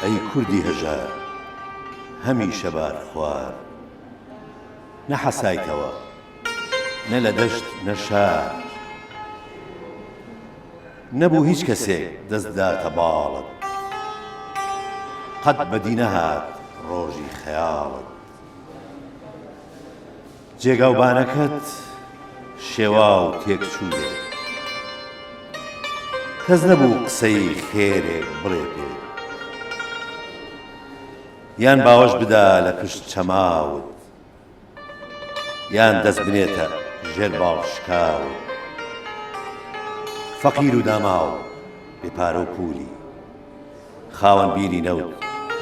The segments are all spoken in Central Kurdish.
ئەی کوردی هەژار هەمیشە بارخوار نەحەسایتەوە نە لە دەشت نە شار نەبوو هیچ کەسێک دەست بداتە باڵت قەت بەدی نەهات ڕۆژی خەیاڵت. جێگا و بانەکەت شێواو تێک چووێ کەس نەبوو قسەی خێرێک بڵێ پێ یان باوەش بدا لە پشت چەماوت یان دەست بنێتە ژێر باڵ شکاوت فەقیر و داماو بێ پارە و پوولی خاوەن بیری نەوت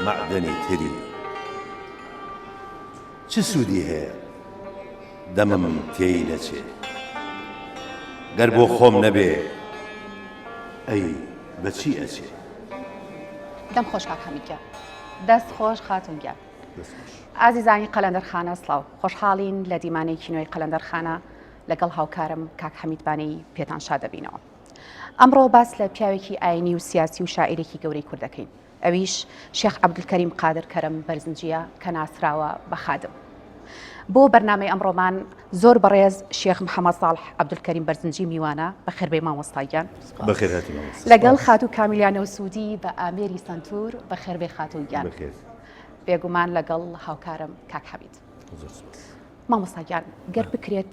مەعدەنی تری چ سوودی هەیە دەمم تێی نەچێ گەر بۆ خۆم نەبێ ئەی بە چی ئەچێ؟ دەم خۆش کاک حەمید گیان دەست خۆش خاتون گیان ئازیزانی قەلەندەرخانە سڵاو خۆشحاڵین لە دیمانەیەکی نوێی قەلەندەرخانە لەگەڵ هاوکارم کاک حەمیدبانەی پێتان شا دەبینەوە ئەمڕۆ باس لە پیاوێکی ئاینی و سیاسی و شاعیرێکی گەورەی کورد دەکەین ئەویش شێخ عەبدولکەریم قادر کەرم بەرزنجیە کە ناسراوە بە خادم بۆ بەرنمەی ئەمڕۆمان زۆر بەڕێز شێخ محەممەد ساڵح عەبدولکەریم بەرزنجی میوانە بە خێربەی مامۆستاگیان لەگەڵ خاتو کامیلیانە و سوودی بە ئامێری سنتور بە خێربێ خاتوگیان بێگومان لەگەڵ هاوکارم کاک حەبیت مامۆستاگیان گەر بکرێت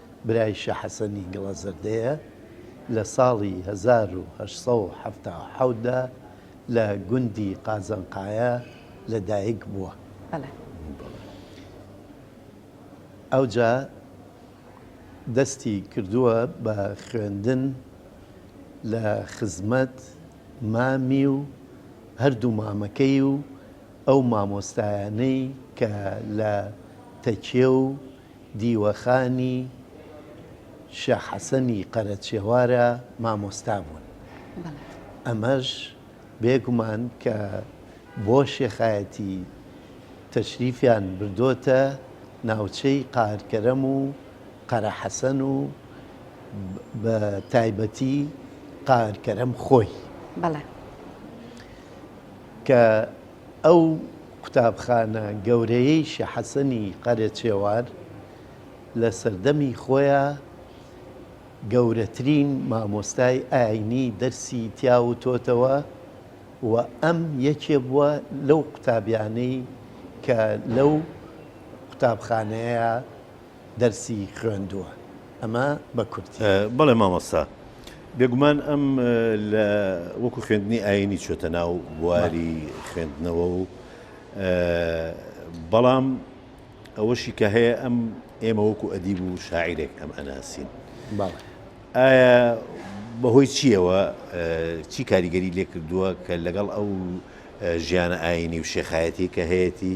برای شا حەسەنی گڵەزەردەیە، لە ساڵی هەزار و هەشت سەد و حەفتا و حەوت دا لە گوندی قازنقایە لە دایک بووە. ئەوجا دەستی کردووە بە خوێندن لە خزمەت مامی و هەردوو مامەکەی و ئەو مامۆستایانەی کە لە تەکیە و دیوەخانی شێخ حەسەنی قەرەچێوارە مامۆستا بوون. ئەمەش بێ گومان کە بۆ شێخایەتی تەشریفیان بردۆتە ناوچەی قارکەرەم و قەرەحەسەن و بە تایبەتی قارکەرەم خۆی. بەڵێ. کە ئەو قوتابخانە گەورەیەی شێ حەسەنی قەرەچێوان لە سەردەمی خۆیا گەورەترین مامۆستای ئاینی دەرسی تیا وتۆتەوە و ئەم یەکێ بووە لەو قوتابیانەی کە لەو قوتابخانەیە دەرسی خوێندووە ئەمە بە کوردی. بەڵێ مامۆستا بێگومان ئەم لە وەکو خوێندنی ئاینی چۆتە ناو بواری خوێندنەوە و بەڵام ئەوەشی کە هەیە ئەم ئێمە وەکو ئەدیب و شاعیرێک ئەم ئەناسین ئایا بەهۆی چیەوە چی کاریگەری لێ کردووە کە لەگەڵ ئەو ژیانە ئاینی و شێخایەتی کە هەیەی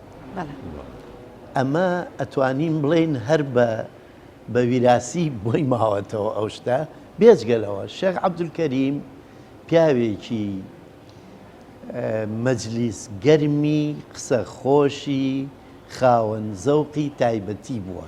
ئەمە ئەتوانین بڵێین هەر بە بە ویراسی بۆی ماوەتەوە ئەو شتە بێجگەلەوە شێخ عەبدولکەریم پیاوێکی مەجلیس گەرمی قسە خۆشی خاوەن زەوقی تایبەتی بووە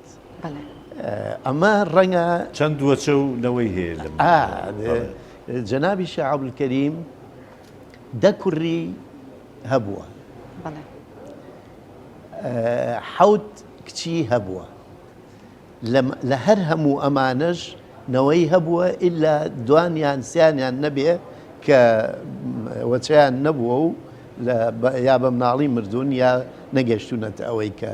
ئەمە ڕەنگە چەند وەچە و نەوەی هەیە لە جەنابی شعبولکەریم دە کوڕی هەبووە حەوت کچی هەبووە لە هەر هەموو ئەمانەش نەوەی هەبووە ئللا دوانیان سیانیان نەبێ کە وەچیان نەبووە و یا بە مناڵی مردوون یا نەگەشتونەتە ئەوەی کە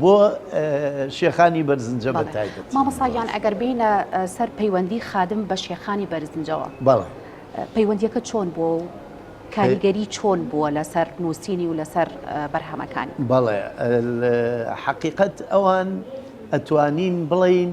بۆ شێخانی بەرزنجە بە تایبەت مامەساگیان ئەگەر بینە سەر پەیوەندی خادم بە شێخانی بەرزنجەوە بەڵێ پەیوەندیەکە چۆن بۆ و کاریگەری چۆن بووە لەسەر نووسینی و لەسەر بەرهەمەکان بەڵێ حقیقت ئەوان ئەتوانین بڵین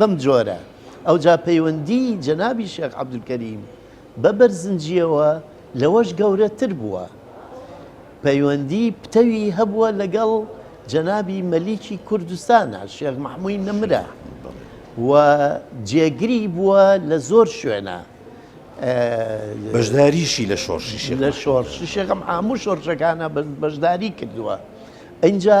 بەم جۆرە ئەوجا پەیوەندی جەنابی شێخ عەبدولکەریم بە بەرزنجیەوە لەوەش گەورەتر بووە پەیوەندی پتەوی هەبووە لەگەڵ جەنابی مەلیکی کوردستانە شێخ مححمووی نەمرە و جێگری بووە لە زۆر شوێنە بەشداریشی لە شۆڕشی لە شۆڕشی شێخم هەموو شۆڕشەکانە بەشداری کردووە ئەجا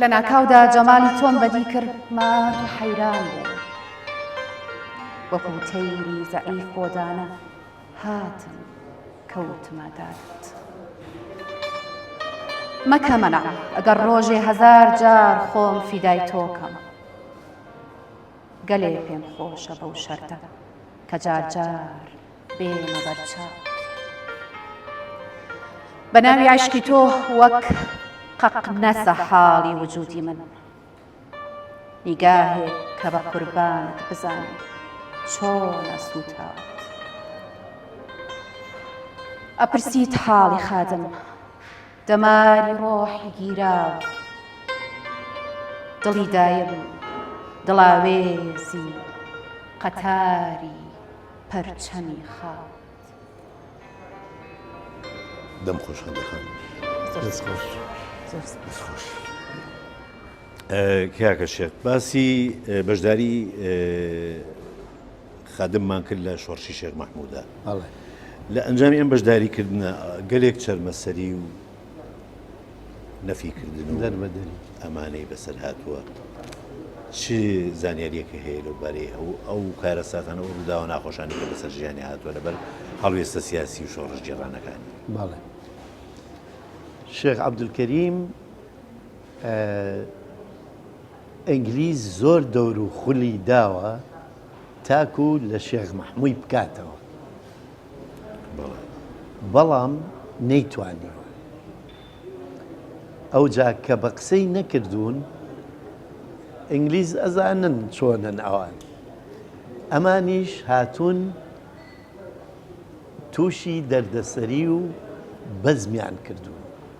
لە ناکاودا جەمالی تۆم بەدی کرد مات و حەیران بوو وەکو تەیری زەعیف بۆدانە هاتم کەوتمە دەرت مەکە مەنە ئەگەر ڕۆژێ هەزار جار خۆم فیدای تۆکەم گەلێ پێم خۆشە بەو شەرتە کە جارجار بێمە بەر چاو. بە ناوی عەشقی تۆ وەک قەقنەسە حاڵی وجودی من نیگاهێ کە بە قوربانت بزانێ چۆنە سووتاوت ئەپرسیت حاڵی خادم دەماری ڕۆحی گیراوە دڵی دایم دڵاوێزی قەتاری پەرچەمی خاوەند. دەم خۆش خەندە خان دەست خۆش دەست خۆش. کاکە شێت باسی بەشداری خادممان کرد لە شۆڕشی شێخ مەحمودا لە ئەنجامی ئەم بەشداریکردنە گەلێک چەرمەسەری و نەفی کردن و دەربەدەری ئەمانەی بەسەر هاتووە چ زانیاریەکە هەیە لەو بارەی ئەو ئەو کارەساتانە و ڕووداوە ناخۆشانی کە بەسەر ژیانی هاتووە لەبەر هەڵوێستە سیاسی و شۆڕش جێڕانەکانی باڵێ شێخ عبدولکەریم ئینگلیز زۆر دەور و خولی داوە تاکو لە شێخ مەحموی بکاتەوە بەڵام نەیتوانیوە ئەوجا کە بە قسەی نەکردوون ئینگلیز ئەزانن چۆنن ئەوان ئەمانیش هاتوون تووشی دەردەسەری و بەزمیان کردوون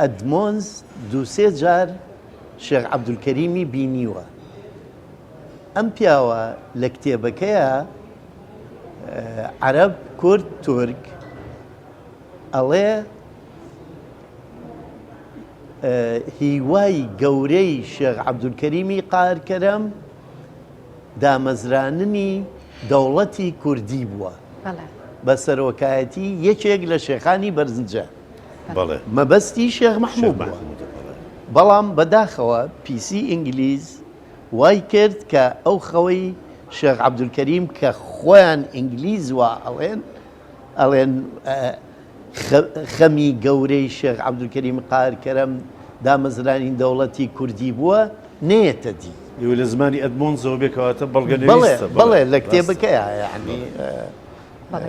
ئەدمۆنز دوو سێ جار شێخ عەبدولکەریمی بینیوە. ئەم پیاوە لە کتێبەکەیا عەرەب کورد تورک ئەڵێ هیوای گەورەی شێخ عەبدولکەریمی قارکەرەم دامەزراننی دەوڵەتی کوردی بووە بە سەرۆکایەتی یەکێک لە شێخانی بەرزنجە. بەڵێ مەبەستی شێخ مەحموود بووە. بەڵام بە داخەوە پیسی ئینگلیز وای کرد کە ئەو خەوەی شێخ عەبدولکەریم کە خۆیان ئینگلیز وا ئەڵێن ئەڵێن خەمی گەورەی شێخ عەبدولکەریم قاهر کەرەم دامەزرانی دەوڵەتی کوردی بووە نەیەتە دی. ئێوە لە زمانی ئەدمۆنزەوە بێ کەواتە بەڵگەنەویستە. بەڵێ بەڵێ لە کتێبەکەیا یانی. بەڵێ.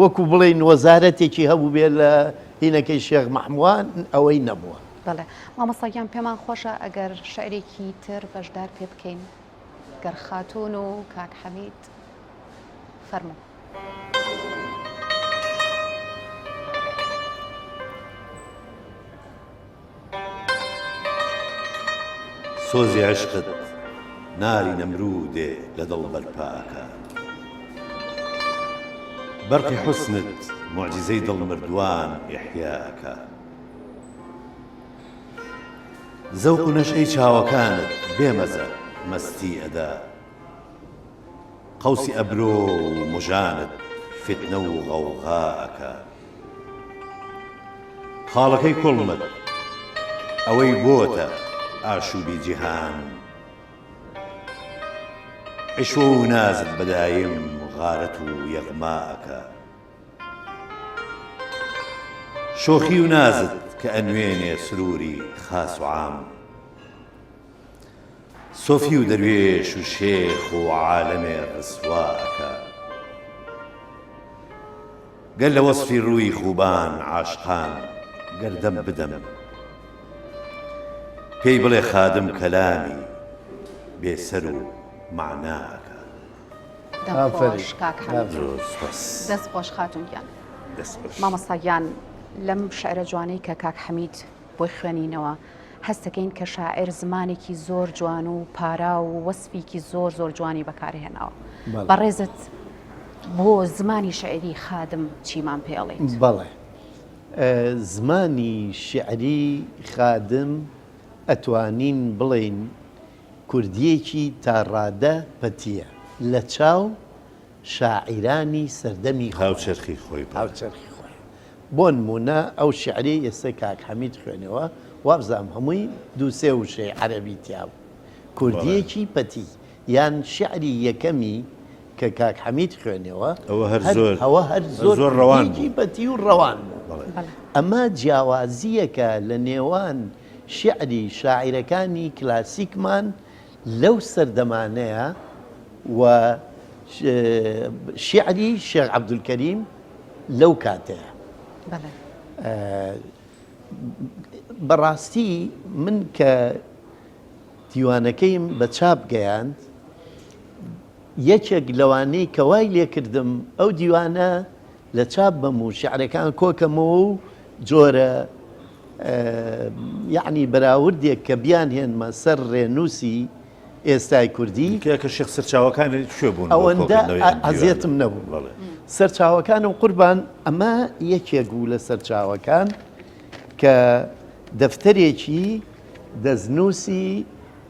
وەکو بڵێین وەزارەتێکی هەبووبێ لە هینەکەی شێخ مەحموان ئەوەی نەبووە. بەڵێ مامۆستا گیان پێمان خۆشە ئەگەر شعرێکی تر بەشدار پێ بکەین گەر خاتون و کاک حەمید فەرموو. سۆزی عەشقت ناری نەمرودێ لە دڵ بەرپا ئەکا بەرقی حوسنت موعجیزەی دڵ مردووان ئیحیا ئەکا زەوق و نەشئەی چاوەکانت بێ مەزە مەستی ئەدا قەوسی ئەبرۆ و مژانت فیتنە و غەوغا ئەکا. خاڵەکەی کوڵمت ئەوەی بۆتە ئاشوبی جیهان عیشوە و نازت بە دایم غارەت و یەغما ئەکا شۆخی و نازت کە ئەنوێنێ سروری خاس و عام. سۆفی و دەروێش و شێخ و عالەمێ ڕسوا ئەکا گەر لە وەسفی ڕووی خوبان عاشقان گەر دەم بدەم پێی بڵێ خادم کەلامی بێ سەر و مەعنا ئەکا مامۆستاگیان لەم شعرە جوانەی کە کاک حەمید بۆی خوێنینەوە هەستەکەین کە شاعر زمانێکی زۆر جوان و پارا و وەسفیکی زۆر زۆر جوانی بەکارهێناوە بەڕێزت بۆ زمانی شعری خادم چیمان پێڵێ بەڵێ زمانی شعری خادم ئەتوانین بڵین کوردیەکی تاڕادە پەتیە لە چاو شاعیرانی سەردەمی خۆی. هاوچەرخی خۆی بڵێ. هاوچەرخی خۆی. بۆنموونە ئەو شیعرەی ئێستا کاک حەمید خوێنەوە، وابزانم هەمووی دوو سێ وشەی عەرەبی تیا بوو. کوردییەکی پەتی. یان شیعری یەکەمی کە کاک حەمید خوێنەوە. ئەوە هەر زۆر. ئەوە هەر زۆر. زۆر ڕەوان بوو. کوردییەکی پەتی و ڕەوان بوو. بەڵێ. ئەمە جیاوازییەکە لە نێوان شیعری شاعیرەکانی کلاسیکمان، لەو سەردەمانەیە و شیعری شێخ عەبدولکەریم لەو کاتەیە. بەڵێ. بەڕاستی من کە دیوانەکەیم بە چاپ گەیاند، یەکێک لەوانەی کە وای لێ کردم ئەو دیوانە، لە چاپ بم و شیعرەکان کۆ کەمەوە و جۆرە یەعنی بەراوردێک کە بیانهێنمە سەر ڕێنووسی ئێستای کوردی. تکایە کە شێخ سەرچاوەکانی کوێ بوون؟ ئەوەندە ئەزیەتم نەبوو. بەڵێ. سەرچاوەکانم قوربان ئەمە یەکێک بوو لە سەرچاوەکان کە دەفتەرێکی دەستنووسی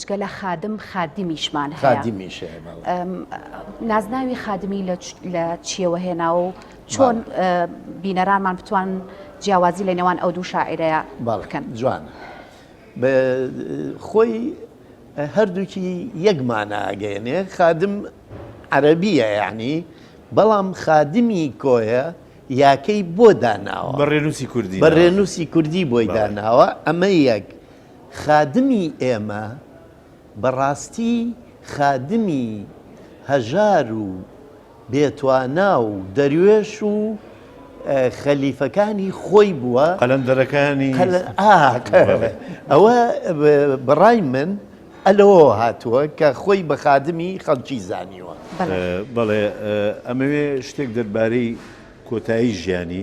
جگە لە خادم خادمیشمان هەیە. خادمیش هەیە، بەڵێ. ئەم نازناوی خادمی لە چ- لە چییەوە هێناوە و چۆن بەڵێ. ئە، بینەرانمان بتوان جیاوازی لە نێوان ئەو دوو شاعیرەیە بەڵێ، بکەن؟ جوانە. بە، خۆی هەردووکی یەک مانا ئەگەیەنێ، خادم عەرەبییە یانی، بەڵام خادمی کۆیە یاکەی بۆ داناوە. بە ڕێنووسی کوردی بە ناوەکەی. ڕێنووسی کوردی بۆی بەڵێ. داناوە، ئەمە یەک. خادمی ئێمە بەڕاستی خادمی هەژار و بێتوانا و دەروێش و خەلیفەکانی خۆی بووە. قەلەندەرەکانی. ئەوە بەڕای من لەوەوە هاتووە کە خۆی بە خادمی خەڵکی زانیوە. بەڵێ ئەمەوێ شتێک دەربارەی کۆتایی ژیانی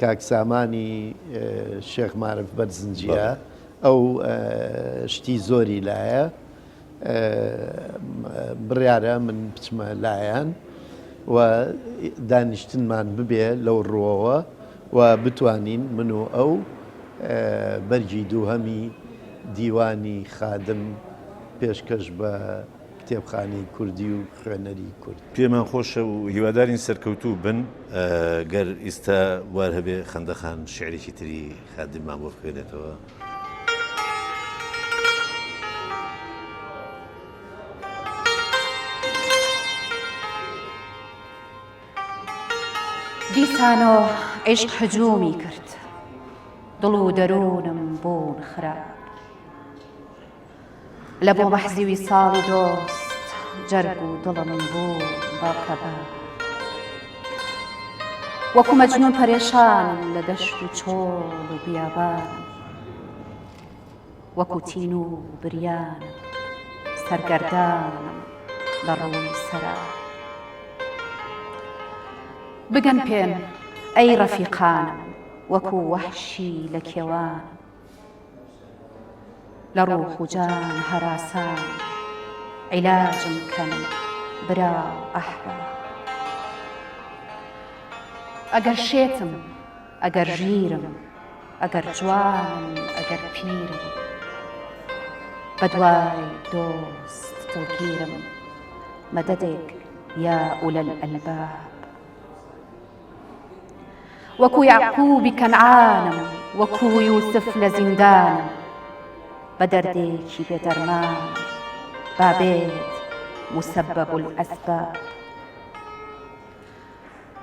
کاک سامانی شێخ مارف بەرزنجیە ئەو شتی زۆری لایە بڕیارە من بچمە لایەن و دانیشتنمان ببێ لەو ڕووەوە و بتوانین من و ئەو بەرگی دووهەمی دیوانی خادم پێشکەش بە کتێبخانەی کوردی و خوێنەری کورد. پێمان خۆشە و هیوادارین سەرکەوتوو بن. گەر ئیستا بوار هەبێ خەندە خان شیعرێکی تری خادممان بۆ بخوێنێتەوە. دیسانۆ عیشق هجوومی کرد دڵ و دەروونم بوون خراپ لە بۆ مەحزی ویساڵی دۆست جەرگ و دڵم بوو بە کەبە وەکوو مەجنوون پەرێشان لە دەشت و چۆڵ و بیابان وەکوو تین و بریان سەرگەردانم لە ڕووی سەرا بگەن پێم ئەی ڕەفیقانم وەکوو وەحشی لە کێوان لە ڕوح و جان هەراسان عیلاجم کەن برا و ئەحباب. ئەگەر شێتم ئەگەر ژیرم ئەگەر جوانم ئەگەر پیرم بە دوای دۆست دڵگیرم مەدەدێک یا ئولەلئەلباب. وەکو یەعقوبی کەنعانم وەکو یوسف لە زیندانم بە دەردێکی بێ دەرمانم با بێت مسبب الاسباب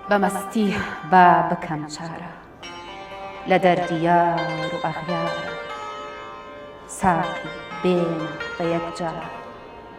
بە مەستی با بکەم چارە لە دەردی یار و ئەغیارم ساقی بێنە بە یەکجار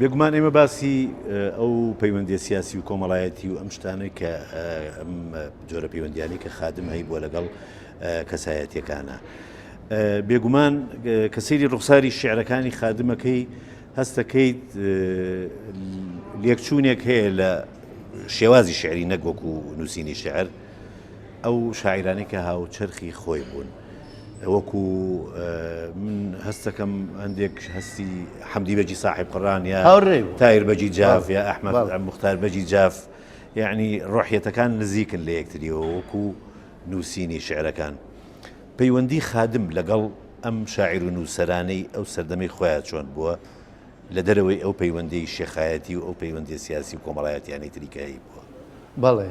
بێگومان ئێمە باسی ئەو پەیوەندیە سیاسی و کۆمەڵایەتی و ئەم شتانە کە ئەم جۆرە پەیوەندیانی کە خادم هەی بووە لەگەڵ کەسایەتەکانە. بێگومان کە سەیری ڕوخساری شعرەکانی خادمەکەی هەستەکەیت لێکچوونێک هەیە لە شێوازی شعری نەگۆک و نووسینی شعر ئەو شاعرانەی کە هاوچەرخی خۆی بوون. وەکو من هەستەکەم هەندێک هەستی حەمدی بەجی ساحب قڕان یا تایر بەجی جاف یا ئەحمد مختار بەجی جاف یعنی ڕۆحیەتەکان نزیکن لە یەکتریەوە وەکو نووسینی شعرەکان پەیوەندی خادم لەگەڵ ئەم شاعیر و نووسەرانەی ئەو سەردەمی خۆیان چۆن بووە لە دەرەوەی ئەو پەیوەندی شێخایەتی و ئەو پەیوەندی سیاسی و کۆمەڵایەتیانی تریکایی بووە بەڵێ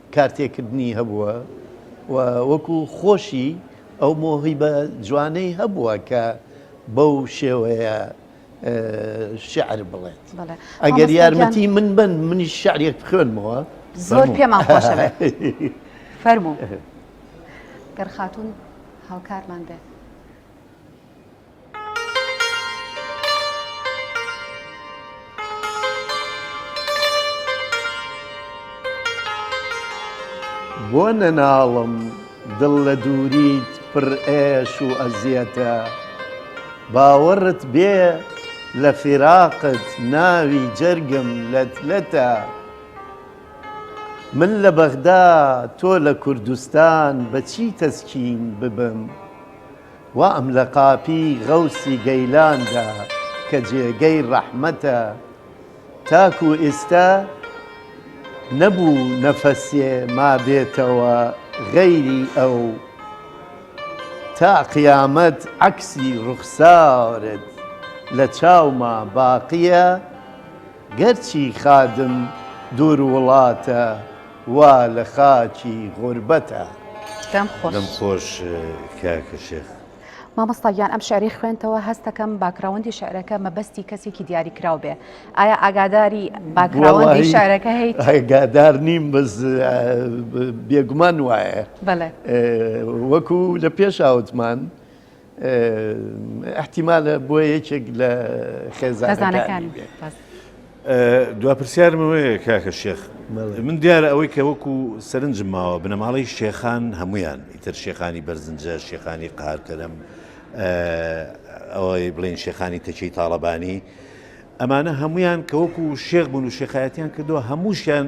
کارتێکردنی هەبووە و وەکو خۆشی ئەو مۆهیبە جوانەی هەبووە کە بەو شێوەیە شعر بڵێت ئەگەر یارمەتی من بن منی شعرێک بخوێنمەوە زۆر پێمان خۆشە فەرمو گەر خاتون هاوکارمان بێت بۆ نەناڵم دڵ لە دووریت پڕ ئێش و ئەزیەتە باوەڕت بێ لە فیراقت ناوی جەرگم لەت لەتە من لە بەغدا تۆ لە کوردستان بە چی تەسکین ببم وام لە قاپی غەوسی گەیلان دا کە جێگەی ڕەحمەتە تاکو ئیستا نەبوو نەفەسێ مابێتەوە غەیری ئەو تا قیامەت عەکسی ڕوخسارت لە چاوما باقیە گەرچی خادم دوور وڵاتە. وا لە خاکی غوربەتە. دەم خۆش. دەم خۆش کاکە شێخ. مامۆستا گیان ئەم شعری خوێنتەوە هەستەکەم باکراوەندی شعرەکە مەبەستی کەسێکی دیاری کراو بێ ئایا ئاگاداری باکراوەندی شعرەکە هەیت ئاگادار نیم بەس بێگومان وایە وەکو لە پێش ئاوتمان ئەحتیمالە بۆ یەکێک لە خێزانەکانی دو پرسیارمەوەەیە کاکە شێخ من دیارە ئەوەی کە وەکو سەرنجم ماوە بنەماڵی شێخان هەمویان ئیتر شێخانی بەرزنجە شێخانی قارکەرم ئەوەی بڵین شێخانی تەچی تاالبانی ئەمانە هەمویان کە وەکو شێخ بوون و شێخایەتیان کردووە هەمووشیان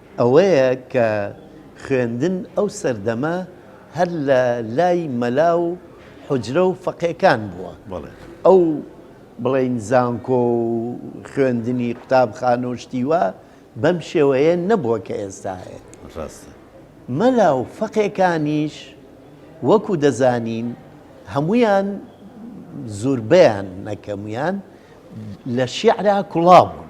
ئەوەیە کە خوێندن ئەو سەردەمە هەر لە لای مەلا و حوجرە و فەقێکان بووە. ئەو بڵێین زانکۆ و خوێندنی قوتابخانە و شتی وا بەم شێوەیە نەبووە کە ئێستا هەیە. مەلا و فەقێکانیش وەکوو دەزانین هەموویان زوربەیان نەکەموویان لە شیعرا کوڵا بوون.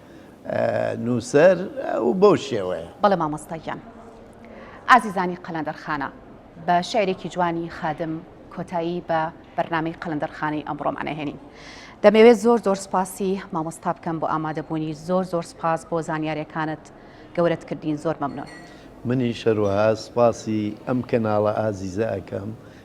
نووسەر و بەو شێوەیە. بەڵێ مامۆستا گیان. ئازیزانی قەلەندەرخانە، بە شعرێکی جوانی خادم کۆتایی بە بەرنامەی قەلەندەرخانەی ئەمڕۆمان ئەهێنین. دەمەوێت زۆر زۆر سپاسی مامۆستا بکەم بۆ ئامادەبوونی، زۆر زۆر سپاس بۆ زانیاریەکانت گەورەت کردین زۆر مەمنون. منیش هەروەها سپاسی ئەم کەناڵە ئازیزە ئەکەم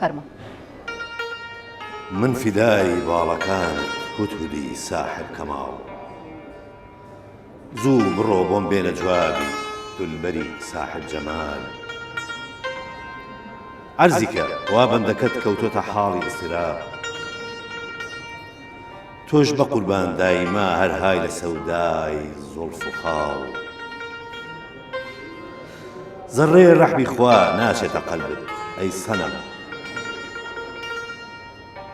فەرموو. من فیدای باڵەکانت هودهودی ساحر کەماڵ. زوو بڕۆ بۆم بێنە جوابی دولبەری ساحر جەمال. عەرزیکە وا بەندەکەت کەوتۆتە حاڵی ئیزتراب. تۆش بەقوربان دایمە هەر های لە سەودای زوڵف و خاڵ. زەڕەی ڕەحمی خوا ناچێتە قەلبت ئەی سەنەم.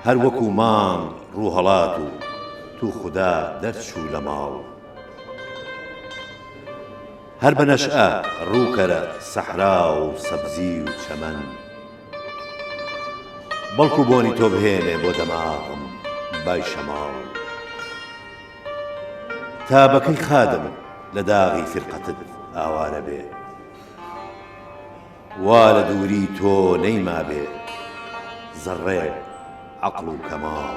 هەر وەکوو مانگ ڕوو هەڵات و تو خودا دەرچوو لە ماڵ. هەر بە نەشئە ڕووکەرە سەحرا و سەبزی و چەمەن. بەڵکو بۆنی تۆ بهێنێ بۆ دەماغم بای شەماڵ تا بە کەی خادم لە داغی فیرقەتت ئاوارە بێ وا لە دووری تۆ نەیمابێ زەڕڕێ عەقڵ و کەماڵ.